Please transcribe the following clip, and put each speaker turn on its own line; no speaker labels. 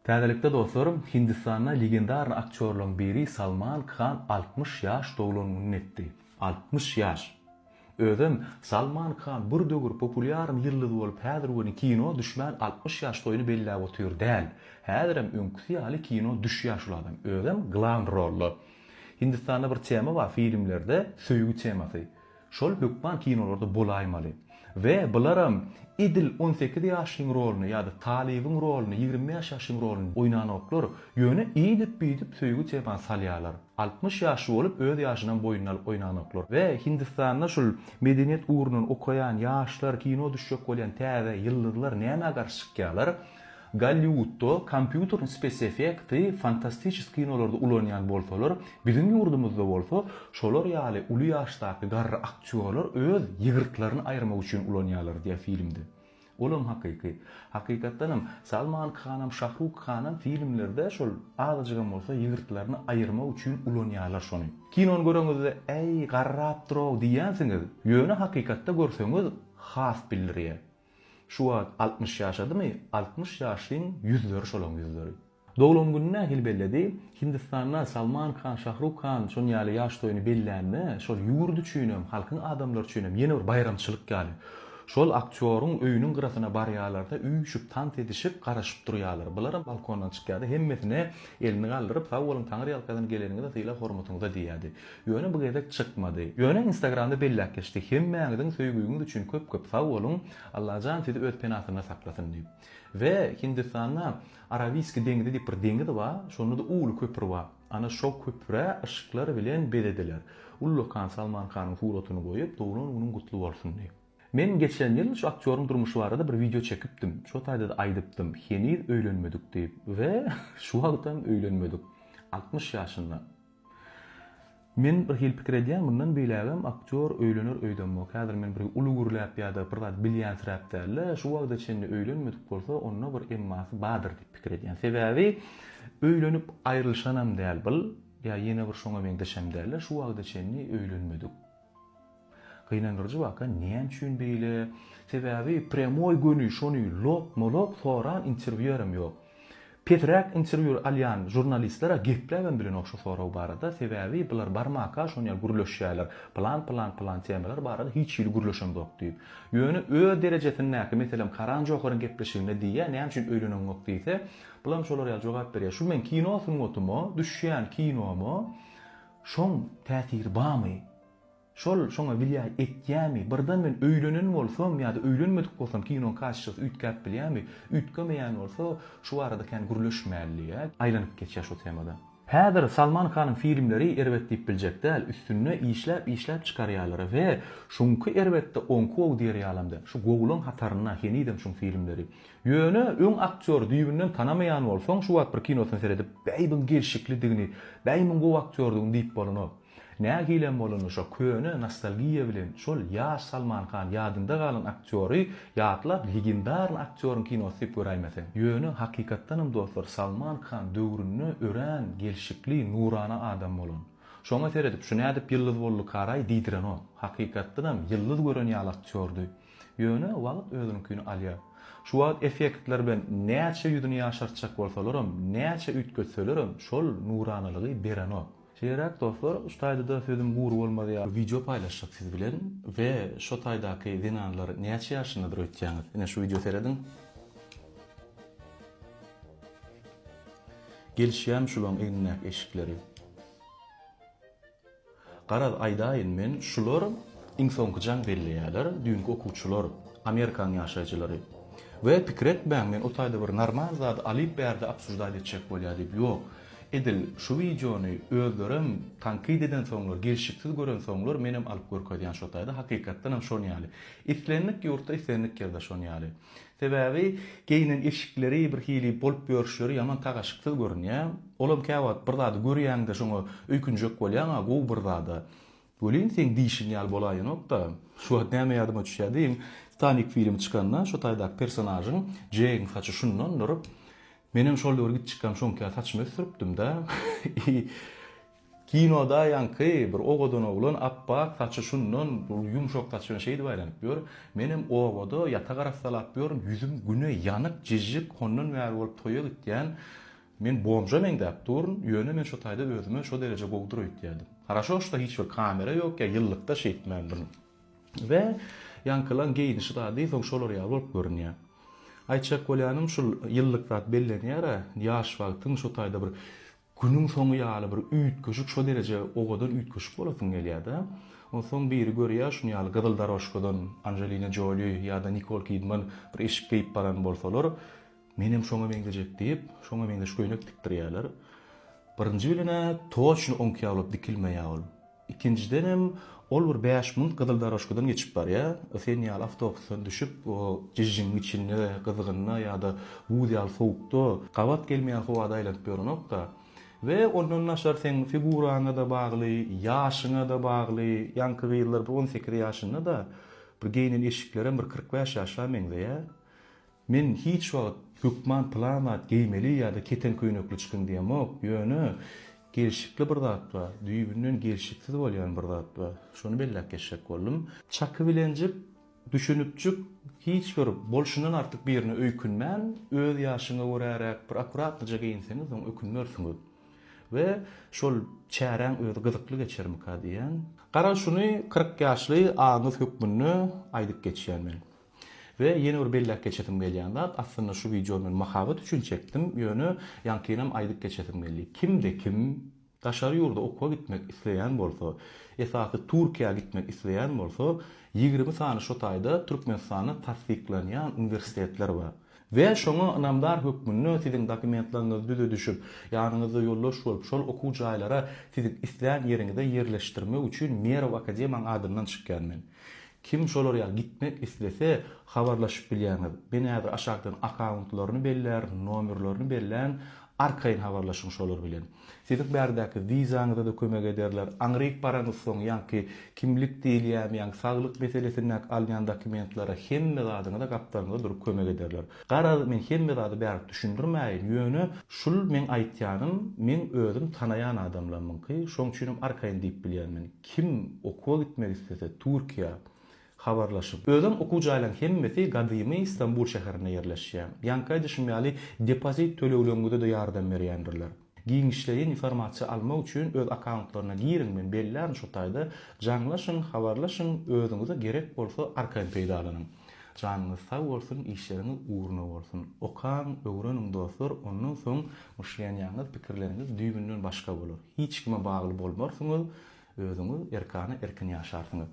Täzelikde dostlarym, Hindistanda legendarny aktýorlaryň biri Salman Khan altmyş ýaş doglan gününi etdi. Altmyş ýaş! Özem Salman Khan bir döwür populýarn ýyldyz bolup häzir welin kino düşmän altmyş ýaş toýuny belläp otyr däl. Häzirem öňküsi ýaly kino düşýär şul adam. Özem glan rolda. Hindistanda bir tema bar filmlerde söýgi temasy. Şol hökman kinolarda bolaýmaly. We bularam edil on sekiz ýaşlyň roluny ýa-da talybyň roluny, ýigrimi bäş ýaşlyň roluny oýnanoklar, ýöne iýdip-biýdip söýgi tema salýarlar. Altmyş ýaşly bolup öz ýaşynam boýnuna alyp oýnanoklar. We Hindistanda şul medeniýet ugrundan okaýan ýaşlar, kino düşjek bolýan täze ýyldyzlar nämä garşy çykýarlar? Golliwudda kompýuter spesiefekti fantastiçis kinolarda ulanýan bolsalar, biziň ýurdumyzda bolsa şolar ýaly uly ýaşdaky garry aktýorlar öz ýygyrtlaryny aýyrmak üçin ulanýarlar diýýär filmde. Olam hakyky. Hakykatdanam, Salman Khanam, Şahruk Khanam filmlerde şol azajygam bolsa ýygyrtlaryny aýyrmak üçin ulanýarlar şony. Kinony göreňizde äý garrapdyrow diýýänsiňiz, ýöne hakykatda görseňiz has bildirýär. Şu wagt altmyş ýaşadymy? Altmyş ýaşlyň ýüzleri şolaň ýüzleri. Doglan gününi nähili belledi? Hindistanda Salman Khan, Şahruk Khan şonuň ýaly ýaş toýuny bellände, şol ýurt üçinem, halkyň adamlary üçinem ýene bir baýramçylyk ýaly. Şol aktýoryň öýüniň gyrasyna barýarlar-da, üýşüp, tans edişip, garaşyp durýarlar. Bularam balkondan çykýardy, hemmesine elini galdyryp, Sag boluň, Taňryýalkasyn, geleniňize, sylag-hormatyňyza diýýärdi. Ýöne bu gezek çykmady. Ýöne instagramda belläp geçdi. Hemmäňiziň söýgiňiz üçin köp köp sag boluň. Allajan sizi öz penasynda saklasyn diýip. We Hindistanda Arawiski deňizi diýip bir deňiz bar. Şondada uly köpür bar. Ana şo köpüre yşyklar bilen bezediler. Ullakan Salman Khanyň suratyny goýup doglan günüň gutly bolsun diýip. Men geçen ýyl şu aktýoryň durmuşy barada bir wideo çekipdim. Şo taýdada aýdypdym. Heniz öýlenmedik diýip. We şu wagtam öýlenmedik. Altmyş ýaşynda. Men bir hili pikir edýän, mundan beýlägem aktýor öýlener öýdemok. Häzir men bir uly gürläp ýa-da bir zat bilýänsiräp däl-de, şu wagta çenli öýlenmedik bolsa, onda bir emmasy bardyr diýip pikir edýän. Sebäbi öýlenip aýrylyşanam däl bil, ýa ýene bir şoňa meňzeşem däl-de, şu wagta çenli öýlenmedik. Gynandyryjy waka näme üçin beýle? Sebäbi prýamoý göni şony lopma-lop soran interwýuerem ýok. Pesräk interwýu alýan žurnalistler-ä gepläbem bilen ogşa sorag barada, sebäbi bular barmaka şonyýe gürleşýäler, plan-plan-plan temalar barada hiç hili gürleşemzok diýip. Ýöne öz derejesindäki, meselem, Karan Joharyň gepleşiginde diýýä, näme üçin öýleneňok diýse, bulam şolar ýaly jogap berýä, şu meň kino sungatyma, düşýän kinomy, Şoň täsiri bamy? Şol şoňa wlýaý etýämi? Birden men öýlenen bolsam ýa-da öýlenmedik bolsam kinoň kassasy üýtgäp bilýämi? Üýtgemeýän bolsa, şu barada kän gürleşmäli. Aýlanyp geçýär şu temadan. Häzir Salman Khanyň filmleri erbet diýip biljek däl, üstünde işläp işläp çykarýarlar we şuňky erbetde oňky gowy diýer ýalam däl. Şu gowulaň hatarynda henizem şuň filmleri. Ýöne öň aktýory düýbünden tanamaýan bolsaň, şu wagt bir kinosyny seredip, Bäýbiň gelşiklidigini, Bäýmiň gowy aktýordygyny diýip bolanok. Nähilem bolanda şo köne nostalgiýa bilen şol ýaş Salman Han ýadynda galan aktýory ýatlap legendarny aktýoryň kinosy diýip göräýmeseň. Ýöne hakykatdanam dostlar Salman Khan döwründe örän gelşikli, nurana adam bolan. Şoňa seredip şu nädip ýyldyz boldy karaý diýdirenok. Hakykatdanam ýyldyz gören ýaly aktýordy. Ýöne wagt özüniňkini alýar. Şu wagt effektler bilen näçe ýüzüni ýaşartjak bolsalaram, näçe üýtgetselerem, şol nuranalygy berenok. Şeýleräk dostlar, şu taýda-da sözüm gury bolmazýa. Wideo paýlaşjak siz bilen we şo taýdaky zenanlar näçe ýaşyndadyr öýtýäňiz? Ine şu wideo serediň. Gelişýämi şulaň egnindäki eşikleri? Garaz aýdaýyn men şular iň soňky jaň belleýäler düýnki okuwçylar Amerikanyň ýaşaýjylary we pikir etmäň men o taýda bir normal zady alyp bärde obsuždat etjek bolýa diýip ýok edil şu wideony özlerem tankyd eden soňlar gelşiksiz gören soňlar menem alyp görkezýän şo taýda hakykatdanam şon ýaly islendik ýurtda islendik ýerde şon ýaly. Sebäbi geýnen eşikleri, birhili bolup ýörüşleri ýaman tagaşyksyz görünýär. Olam käwagt bir zady görýäňde şoňa öýkünjek bolýaň-a, gowy bir zada. Welin, seň diýşiň ýaly bolaýanok-da. Şu wagt näme ýadyma düşýär diýiň, Titanik filmi çykanda şo taýdaky personažyň, Jegiň saçy şundandyr. Menem şol döwür gitjikkäm şoňka ýaly saçymy ösdüripdim-dä. Kinoda ýaňky bir owadan oglan apbak saçy şundan bir ýumşak saç bilen şeýdip aýlanyp ýör. Menem obada ýatak arassalap ýörün, ýüzüm güne ýanyk, jijik, hondan bäri bolup toýa gitýän. Men bomža meňzäp duryn, ýöne men şo taýda özüme şo dereje gowudyr öýtýädim. Haraşo şda hiç bir kamera ýok, ýa ýyllykda şeýtmändirin. We ýaňkylaň geýnişi zady soň şolar ýaly bolup görünýä. Aýtjak bolýanym şul ýyllyk zat bellenýär-ä, ýaş wagtyň şo taýda bir Günüň soňy ýaly bir üýtgeşik şo dereje owadan üýtgeşik bolasyň gelýärda. Onsoň biri görýär şuny ýaly gyzyl darožkadan Anjelina Joli ýada Nikol Kidman bir eşik geýip baran bolsalar menem şoňa meňzejek diýip şoňa meňzeş köýnek tikdirýärler. Birinji bilenä toçno oňki ýaly bolup dikilmeýä ol. Ikinjiden hem ol bir bäş minut gyzyldorožkadan geçip barýar, sen ýaly awtobusdan düşüp, o jižžiň içinde, gyzgynda ýa-da buz ýaly sowukda, gabat gelmeýän howada aýlanyp ýörenok-da. We ondan daşary seň figuraňa-da bagly, ýaşyňa-da bagly, ýaňky gyzlar bir on sekiz ýaşynda-da, bir geýnen eşiklerem bir kyrk bäş ýaşa meňzeýär. Men hiç wagt hökman pylan zat geýmeli ýa-da keten köýnekli çykyň diýemok, ýöne gelşikli bir zat bar, düýbünden gelşiksiz bolýan bir zat bar. Şony belläp geçjek boldum. Çakybilenjik, düşünipjik, hiç bir bolşundan artyk birine öýkünmän, öz ýaşyňa göräräk bir akuratnyja geýinseňiz, soň ökünmersiňiz. We şol çäräň özi gyzykly geçermika diýýän. Gara şuny kyrk ýaşly agyňyz hökmünde aýdyp geçýän men. We ýene bir belläp geçesim gelýän zat, aslynda şu wideony men mahabat üçin çekdim, ýöne ýaňkynam aýdyp geçesim geldi. Kimde kim daşary ýurda okuwa gitmek isleýän bolsa, esasy Türkiýä gitmek isleýän bolsa, ýigrimi sany şo taýda Türkmenistanda tassyklanýan uniwersitetler bar. We şoňa ynamdar hökmünde siziň dokumentlaryňyzy düzedişip, ýanyňyzda ýoldaş bolup, şol okuw jaýlara siziň islän ýeriňize ýerleşdirmek üçin Merw akademiýaň adyndan çykýan men. Kim şolar ýaly gitmek islese, habarlaşyp bilýäňiz. Men häzir aşakdan akauntlaryny bellärin, nomerlerini berlän, arkaýyn habarlaşyň şolar bilen. Siziň bärdäki wizaňyza-da kömek ederler. Aňryk baraňyzsoň, ýaňky kimlik diýilýämýäň, saglyk meselesindäki alýan dokumentlere hemme zadyňyza gapdalňyzda durup kömek ederler. Garaz, men hemme zady bärik düşündirmäýin, ýöne şul meň aýtýanym meň özüm tanaýan adamlarymyňky, şoň üçinem arkaýyn diýip bilýän men. Kim okuwa gitmek islese, Türkiýä, Habarlaşyp. Özem okuw jaýlaň hemmesi gadymy Stambul şäherinde ýerleşýä. Ýaňky aýdyşym ýaly depozit tölegleňňüzede ýardam berýändirler. Giňişleýin informasiýa almak üçin öz akauntlaryna giriň men bellärn şu taýda jaňlaşyň habarlaşyň özüňize gerek bolsa arkaýyn peýdalanyň. Janyňyz sag bolsun işleriňiz ugruna bolsun. Okaň öwreniň dostlar ondan soň myşlenýaňyz pikirleriňiz düýbünden başga bolar. Hiç kime bagly bolmarsyňyz özüňiz erkana erkin ýaşarsyňyz.